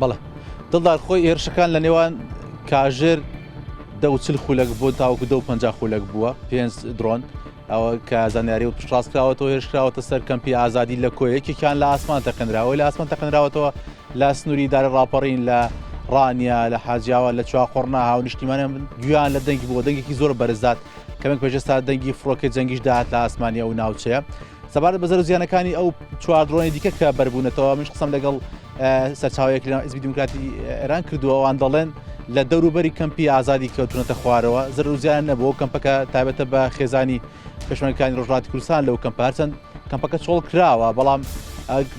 بەڵێ دڵدار خۆی هێرشەکان لە نێوان کاژێر دەوچل خولەک بۆ تاوکو دە پ خولەک بووە پێنج درۆن ئەوە کە زانیاری و پشتڕاستکراوەەوە هێشکراوەتە سەر کەمپی ئازادی لە کۆیەکێکیان لە ئاسمان تەقنراوە لە ئاسمان تەقنراوەتەوە لە سنووری دارە ڕاپەڕین لە ڕانیا لە حاجیاوە لە چوا قڕنا هاو نیشتیمانە گویان لە دەنگی بۆ دەنگێکی زۆر بەرزات کەمێک پێشستا دەنگی فڕۆکە جەنگیش داات لە ئاسمانیا و ناوچەیە سەبارەت بە زەرو زیانەکانی ئەو چوار درۆنی دیکە کە بەربوونەتەوە منش قسەم لەگەڵ سەرچاوەیەک لە ئزبی دیموکراتی ئێران کردووەوان دەڵێن لە دەوروبەری کەمپی ئازادی کەوتونەتە خوارەوە زەرو زیان نەبوو کەمپەکە تابەتە بە خێزانی پێشمەکانی ڕژاتی کوردستان لەو کەمپ هەرچەند کەمپەکە چۆڵ کراوە بەڵام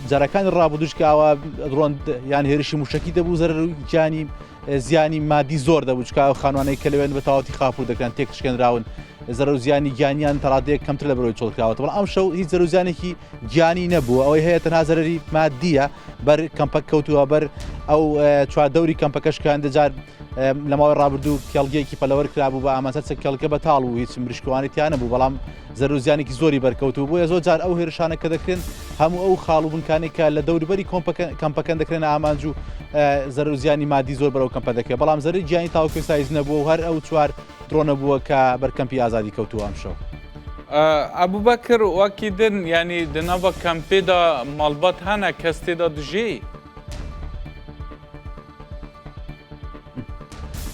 جارەکانی ڕابدوشکاوە ڕۆن یان هێرشی موشکی دەبوو زەرگیانی زیانی مادی زۆر دەبووچکە خانوانەی کە لەوێن بە تاوتی خاپور دەکەن تێکشکێنراون زەرەر و زیانی گیانیان تا ڕادەیەک کەمتر لە بەرەوەی چۆڵکراوەتە بەڵام ئەم شەو هیچ زەرەر و زیانێکی گیانی نەبوو ئەوەی هەیە تەنها زەرەری مادییە بەر کەمپە کەوتووە بەر ئەو اه، چواردەوری کەمپەکەش کە هەندێجار اه، لە ماوەی ڕابردوو کێڵگەیەکی پەلەوەر کرابوو بە ئامانسەر چە کێڵگە بەتاڵ و هیچ مریشکوانی تیا نەبوو بەڵام زەرەر و زیانێکی زۆری بەرکەوتوو بووە زۆر جار ئەو هێرشانە کە دەکرێن هەموو ئەو خاڵ و بنکانی کە لە دەوروبەری کۆمپەکە کەمپەکەن دەکرێنە ئامانج و اه، زەرەر و زیانی مادی زۆر بەرەو کەمپە دەکرێت بەڵام زەرەر گیانی تاوەکو ئێستا هیچ نەبووە و هەر ئەو چوار درۆنە بووە کە بەر کەمپی ئازادی کەوتووە ئەمشەو. ئەبوبەکر وەکی دن یعنی دە ناڤە کەمپێدا ماڵبات هەنە کەس تێدا دژێی؟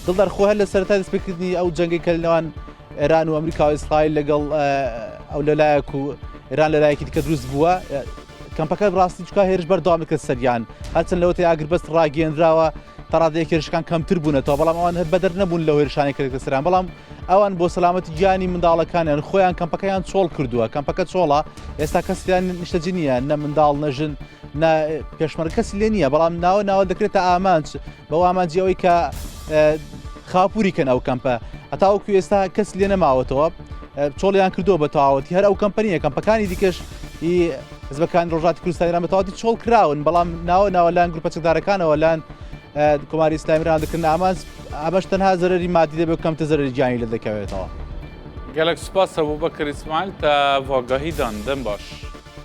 دڵدار خۆ هەر لە سەرەتای دەستپێکردنی ئەو جەنگەی کە لەنێوان ئێران و ئەمریکا و ئیسرائیل لەگەڵ ئەو لەلایەک و ئێران لەلایەکی دیکە دروست بووە کەمپەکە ڕاستی چکا هێرش بەردەوامی کرد سەریان هەرچەند لەوەتی ئاگربەست ڕاگەێنراوە تەڕادەیەک هێرشەکان کەمتر بوونەتەوە بەڵام ئەوان هەر بەدەر نەبوون لە هێرشانی کە دەکرێت سەران بەڵام ئەوان بۆ سەلامەتی گیانی منداڵەکانیان خۆیان کەمپەکەیان چۆڵ کردووە کەمپەکە چۆڵە ئێستا کەسیان نیشتەجی نییە نە منداڵ نەژن نە پێشمەرگ کەسی لێ نییە بەڵام ناوە ناوە دەکرێتە ئامانج بەو ئامانجی ئەوەی کە خاپوری کەن ئەو کەمپە هەتاوەکو ئێستا کەس لێ نەماوەتەوە چۆڵیان کردو بە تەواوەتی هەر ئەو کەمپەنیە کەمپەکانی دیکەش حزبەکانی ڕۆژاتی کوردستان ئێران بە تەواوەتی چۆڵ کراون بەڵام ناوە ناوە لایەن گروپە چەکدارەکانەوە لایەن کۆماری ئیسلامی ئێران دەکردن ئامانج ئەمەش تەنها زەرەری مادی دەبێت کەمتر زەرەری گیانی لێ دەکەوێتەوە. گەلەک سوپاس ئەبوبەکر ئیسماعیل تا ڤاگاهیدان دەم باش.